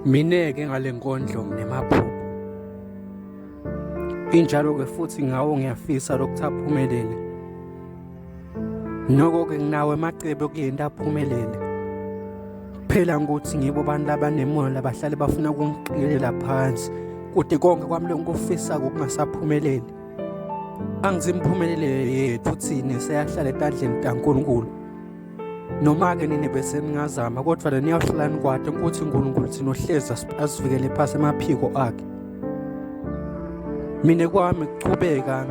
Mina-ke ngale nkondlo nginemaphupho injalo-ke futhi ngawo ngiyafisa lokuthi aphumelele noko-ke nginawo emacebo kule nto aphumelele phela ngokuthi ngibo abantu labanemoya labahlale bafuna ukungiqikelela phansi kude konke kwami lokufisa kokungasaphumeleli angithi imiphumelelo yethu thina seyahlala etandleni kaNkulunkulu noma-ke nini bese ningazama kodwa le niyawuhlala nikwade ukuthi unkulunkulu thina ohlezi asivikele phasi emaphiko akhe mina kwami kuchubeka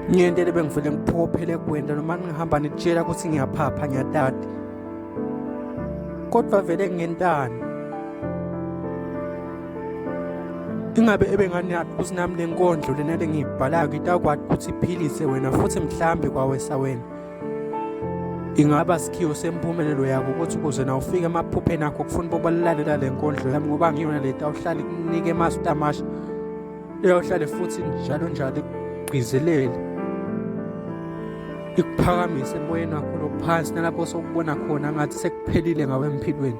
ngiyentele bengivele ngiphophele kwenda noma ningihamba nitshela ukuthi ngiyaphapha ngiyatati kodwa vele ngentani ingabe ebenganiyaphi ukuthi nami le nkondlo lena lengiyibhalayo ngitakwati ukuthi iphilise wena futhi mhlambe kwawesa wena ingaba sikhiwo sempumelelo yako ukuthi ukuze na ufike emaphupheni akho kufuna uba balalalela le nkondlo yami ngoba ngiyona le tawuhlale kunike masu tamasha eyawuhlale futhi njalo njalo igqizelele ikuphakamise emoyeni wakho lophansi nalapho sokubona khona ngathi sekuphelile ngawe empilweni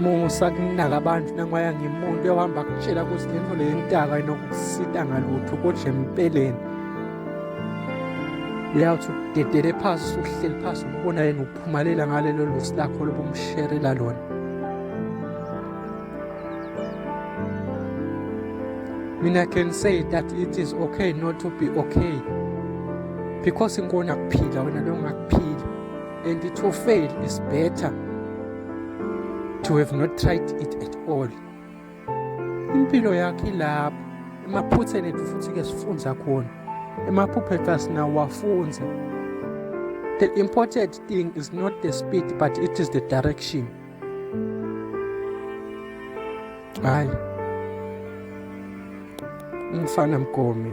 musa kunaka abantu nangiwaya ngimuntu yohamba kutshela ukuthi le nto leyo intaka inokusita ngalutho kodwa empeleni uyawuthi udedele phasi usuhleli phasi ubona yena uphumalela ngalelo lusi lakho lobumsherela lona mina can say that it is okay not to be okay because inkona kuphila wena longakuphila And to fail is better to have not tried it at all. Impilo yakhe ilapho emaphutheni ethu futhi ke sifunza khona. Emaphupho ethu asinawafunza. The important thing is not the speed but it is the direction. Hayi. Umfana mgomi.